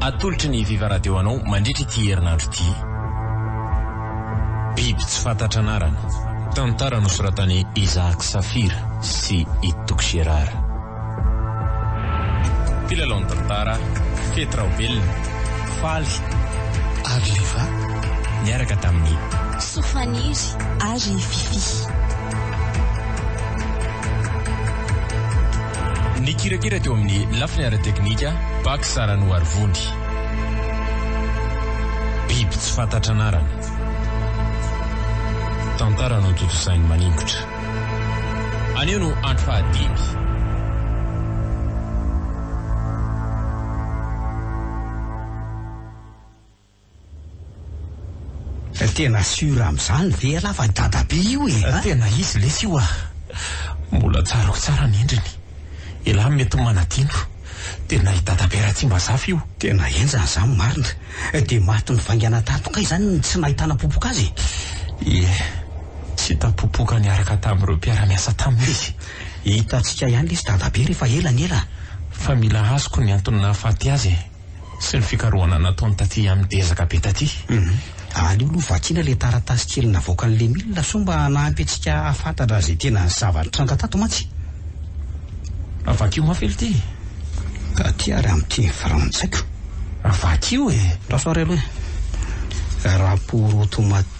Atolotry ny Viva Radio anao mandritra ity herinandro ity, Biby tsy fantatra anarana, tantara nosoratan'i Isaac Saffir sy i Toky Gérard. Mpilalao ny tantara, Fety Raobelina, Faly ary Liva niaraka tamin'i. Sofaniry ary Fiffi. Nikirakira teo amin'ny lafiny ara-teknika Pax Saranoarivony. Biby tsy fantatra anarana. Tantara notontosain'i Maningotra. Anio no andro fahadimy. Tena sûr amzany ve ialahy fa dadabe io e a! Tena izy lesy io ah! Mbola tsarako tsara ny endriny. Elah mety manadino. Tena i dadabe Ratsimbazafy io. Tena henjana izany marina. Dia maty nivaingana tato kay izany no tsy nahitana popoka azy e! Ie, tsy hita popoka niaraka tamin'ireo mpiara-miasa taminy izy. Hitantsika ihany lesy dadabe rehefa ela ny ela. Fa mila azoko ny antony nahafaty azy e! sy ny fikarohana nataony taty amin ezaka be taty. Aleo aloha vakiana ilay taratasy kely navoakan'i Lemila soa mba hanampy antsika hahafantatra izay tena zava-nitranga tato mantsy. Vakio mafy aloha ity e! Taty ary amin'ny teny frantsay ko! Vakio e! Rasoa ary aloha e! Rapport automatique.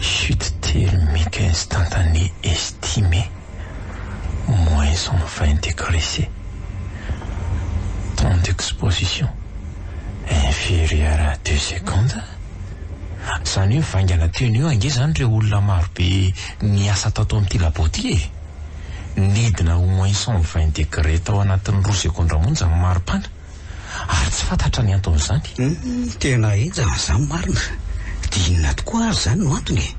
Chute telo mica instantanée estimée, moins cent vingt degres C. Temps d'exposition inférieur à deux secondes, izany hoe vaingana teo anio ange izany ireo olona marobe niasa tato amin'ity labo ity e! Nidina ho moins cent vingt degres tao anatin'ny roa segondra monja ny maripana. ary tsy fantatra ny anton'izany. Humm tena henjana izany marina, dia inona tokoa ary izany no antony e?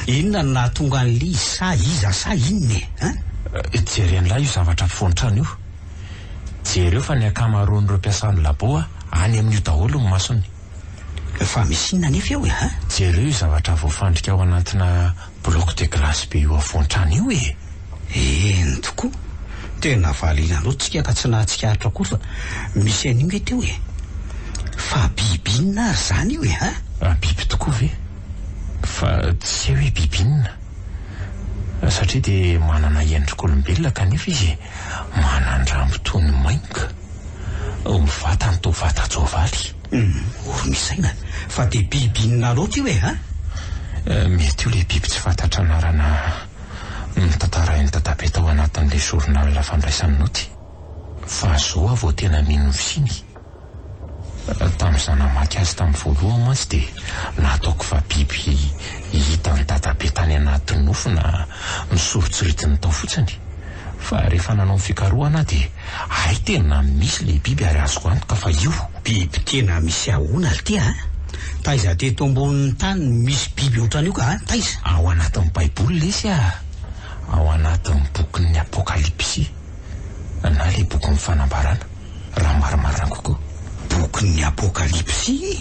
Inona no nahatonga an'i Liz sa iza sa inona e? Hein? Jeren'lah io zavatra afovoan-trano io. Jereo fa ny ankamaroan'ireo mpiasan'ny labo any amin'io daholo ny masony. Fa misy inona anefa eo e? Hein? Jereo io zavatra voafandrika ao anatina. Bloc de glace be io afoantrano io e! Eny tokoa! Tena valiana loatra tsika ka tsy nahatsikaritra koa fa misy an'io nge teo e! Fa biby inona ary izany io e ha? Ah biby tokoa ve? Fa tsy hay hoe biby inona? Satria dia manana endrik'olombelona kanefa izy e! Manan-drambo toy ny mainka! Vatany toa vatan-tsoavaly! Humm, ory ny saina, fa dia biby inona loatra io e ha? Eh, mety io ilay biby tsy fantatra anarana notantarain'i Dadabe tao anatin'ilay journal fandraisany naoty. Fa izao aho vao tena mino ny fisiany e. Tamin'izaho namaky azy tamin'ny voalohany mantsy dia nataoko fa biby hitan'i Dadabe tany anaty nofy na nosoritsoritiny tao fotsiny. Fa rehefa nanao ny fikarohana aho dia Hay tena misy le biby ary azoko antoka fa io. Biby tena misy ahona lty a! Taiza teto ambonin'ny tany no misy biby otran'io ka a! Taiza? Ao anatin'ny baiboly lesy a! Ao anatin'ny bokin'ny apokalipsy na le bokin'ny fanambarana raha marimarina kokoa. Bokin'ny apokalipsy?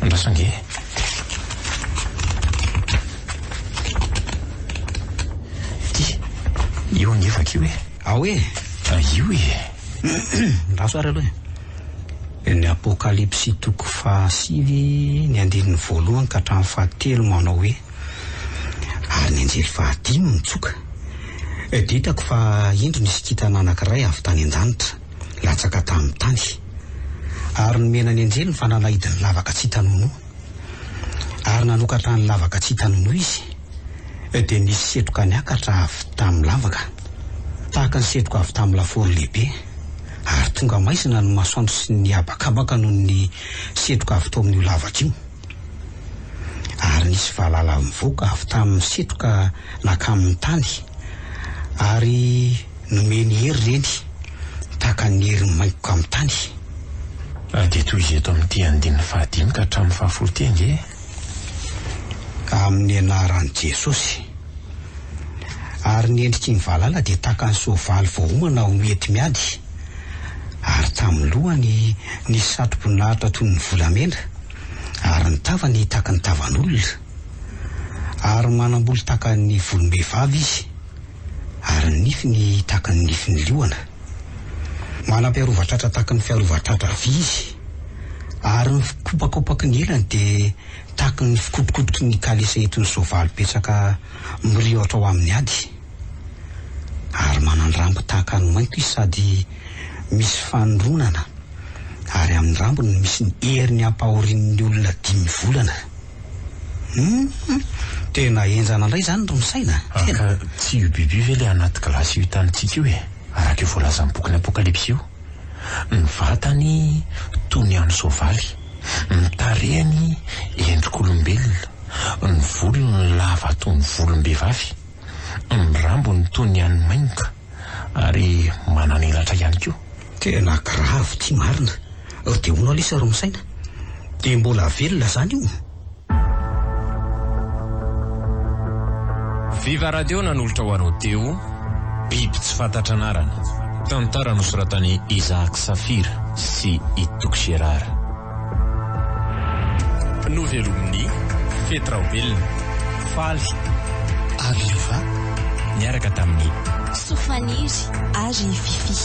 Andraso ange e! Ity, io ange vakio e! Ao e! Ah, io e! Andraso ary aloha e! Ny Apokalypsy toko fahasivy, ny andininy voalohany ka hatramin'ny fahatelo manao hoe, Ary ny anjely fahadimy nitsoka, dia hitako fa indro nisy kintana anankiray avy tany an-danitra, latsaka tamin'ny tany. ary nomena ny anjeliny fa nanahidy ny lavaka tsy hita nonoa, ary nanokatra ny lavaka tsy hita nonoa izy, dia nisy setroka niakatra avy tamin'ny lavaka, tahaka ny setroka avy tamin'ny lafaoro lehibe, ary tonga maizina ny masoandro sy ny habakabaka noho ny setroka avy tao amin'io lavaka io. ary nisy valala nivoaka avy tamin'ny setroka nakamin'ny tany, ary nomeny hery ireny tahaka ny herin'ny maingoka amin'ny tany. Ary dia tohizo eto amin'ity andininy fahadimy ka hatramin'ny fahafolo ity ange e. Amin'ny anaran'i Jesosy. Ary ny endriky ny valala dia tahaka ny soavaly voaomana ho mety miady. ary tamin'ny lohany nisy satroboninahitra toy ny volamena, ary ny tavany tahaka ny tavan'olona, ary manam-bolo tahaka ny volom-behivavy izy, ary ny nifiny tahaka ny nifin'ny liona. Manam-piarovan-tratra tahaka ny fiarovan-tratra vy izy, ary ny fikopakopaky ny elany dia tahaka ny fikotrokotroky ny kalesa entin'ny soavaly betsaka miriotra ho amin'ny ady. ary manan-drambo tahaka ny mainty izy sady misy fanondronana ary amin'ny rambony no misy ny heriny ampahorian'ny olona dimy volana. Hum! Tena henjana indray izany ry Misaina! Tena! Ka tsy io biby io ve ilay anaty gilasy io hitantsika io e? Araka io voalazan'ny bokin'ny Apokalypsy io. Ny vatany toy ny an'ny soavaly, ny tarehiny endrik'olombelona, ny volony lava toy ny volom-behivavy. Ny rambony toa ny an'ny maimboka ary manana elatra ihany koa. Tena grave ty marina. Ry Deono Alisa ry misaina. Dia mbola velona zany io? Viva Radio nanolotra ho anao Deo, Biby tsy fantatra anarana. Tantara nosoratan'i Isaac Saphir sy i Toky Gérard. Novelomin'ny fety Raobelina, Faly ary Lova niaraka tamin'i. Sofaniry ary Fiffi.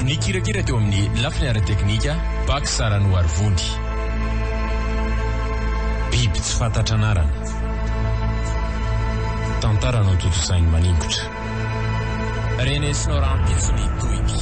Nikirakira teo amin'ny lafiny ara-teknika Bac Saranoarivony. Biby tsy fantatra anarana. Tantara notontosain'i Maningotra. Renesino rahampitso ny tohiky.